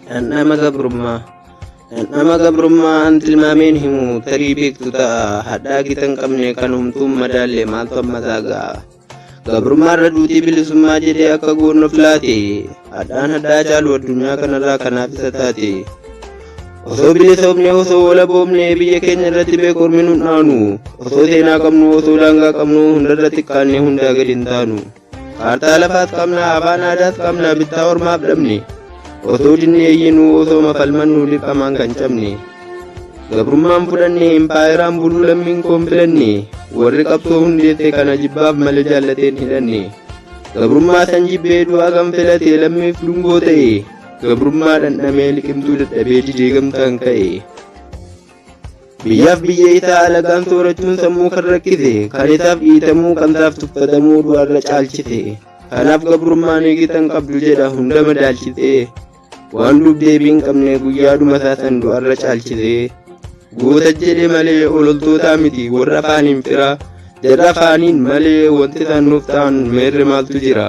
Dhandhama gabrummaa Dhandhama gabrummaa an tilmaameen himu tarii beektu ta'a hadhaa gita hin qabne kan humtuun madaalle maaltu amma isaa ga'a. Gabrummaa irra duutii bilisummaa jedhee akka goonoof laate hadhaan hadhaa caalu addunyaa kanarraa kanaaf isa taate. Osoo bilisoomne osoo walaboomne biyya keenya irratti beekormi nun dhaanu osoo seenaa qabnu osoo daangaa qabnu hundarratti kaanne hundaa gadi hin taanu. Kaartaa lafaas qabna, afaan aadaas qabna, bittaa ormaaf dhabne. Otoo dinne eeyyinuu osoo mafalmannu dirqamaan kan cabne. Gabrummaan fudhanne, impaayeraan buluu lammiin koon filanne. Warri qabsoo hundeesse kana jibbaaf malee jaallateen hidhanne. Gabrummaa san jibbee du'aa kan filate lammiif dungoo ta'e. Gabrummaa dhandhamee liqimtuu dadhabee didee gamtaan ka'e. Biyyaaf biyya itaa alagaan soorachuun sammuu kan rakkise, kan isaaf dhiitamuu, kan isaaf tuffatamuu du'arra caalchise. Kanaaf gabrummaan eegitan qabdu jedha hunda madaalchisee. Waan duub deebii hin qabne guyyaadhuma isaa san du'arra caalchisee. Goota jedhe malee ololtootaa miti warra afaaniin fira. Jarra afaaniin malee wanti isaan nuuf ta'an meerre maaltu jira.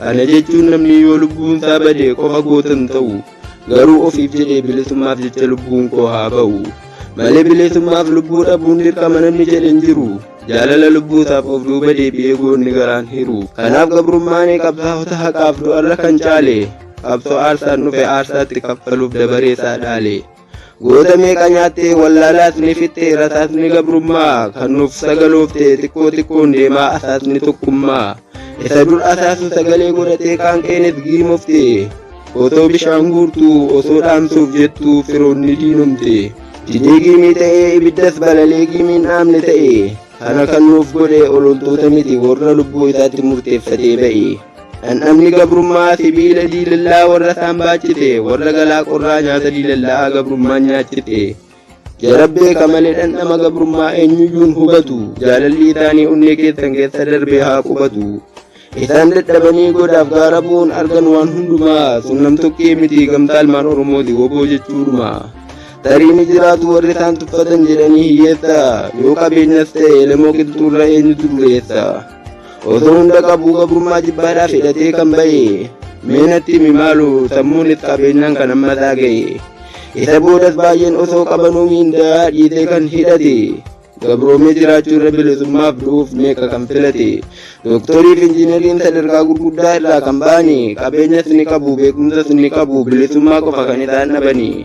Kana jechuun namni yoo lubbuun isaa bade qofa goota hin ta'u. Garuu ofiif jedhee bilisummaaf jecha lubbuun koo haa ba'u. Malee bilisummaaf lubbuu dhabuun dirqama namni jedhe hin jiru. Jaalala lubbuu isaaf of duuba deebi'ee goonni garaan hiru. Kanaaf gabrummaan qabsaa'ota haqaaf du'arra kan caale. Qabsoo aarsaan dhufe aarsaatti kaffaluuf dabaree isaa dhaale. Goota meeqa nyaattee wallaalaas ni fixxee rasaasni gabrummaa kan nuuf sagaloofte xiqqoo xiqqoon deemaa asaasni tokkummaa isa dur asaasu sagalee godhatee qaanqeenis giimofte otoo bishaan guurtuu osoo dhaamsuuf jettuu firoonni diinomte didee giimii ta'ee ibiddas balalee giimiin dhaamne ta'e kana kan nuuf godhe ololtoota miti warra lubbuu isaatti murteeffatee ba'e. Dhandhamni gabrummaa sibiila diilallaa warra isaan baachite warra galaa qorraa nyaata diilallaa gabrummaan nyaachifte. Jarabbee kamalee dhandhama gabrummaa eenyuyyuun hubatu jaalalli isaanii onnee keessan keessa darbee haa qubatu. Isaan dadhabanii godaaf gaara bu'uun argan waan hundumaa sun namtokkee miti gamtaa ilmaan Oromooti woboo jechuudhuma. Tarii ni jiraatu warri isaan tuffatan jedhanii hiyyeessa yoo qabeenyas ta'e lamoo qilxuurra eenyutu dureessa. Osoo hunda qabuu gabrummaa jibbaadhaaf hidhatee kan ba'e meenatti himi maalu sammuun itti qabeenyaan kan amma isaa ga'e. Isa boodas baay'een osoo qabanuu miindaa dhiitee kan hidhate. Gabroomee jiraachuu irra bilisummaaf du'uuf meeqa kan filate. Dooktorii fi injiineriin sadarkaa gurguddaa irraa kan ba'ani qabeenyas ni qabu beekumsas ni qabu bilisummaa qofa kan isaan dhabani.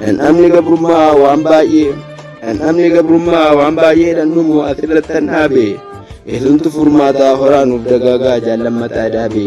Dhandhamni gabrummaa waan baay'ee dhandhamni gabrummaa waan baay'eedhaan dhumu asirratti kan dhaabe eesumtu furmaataa horaa nuuf dagaagaa jaallammataa daabe.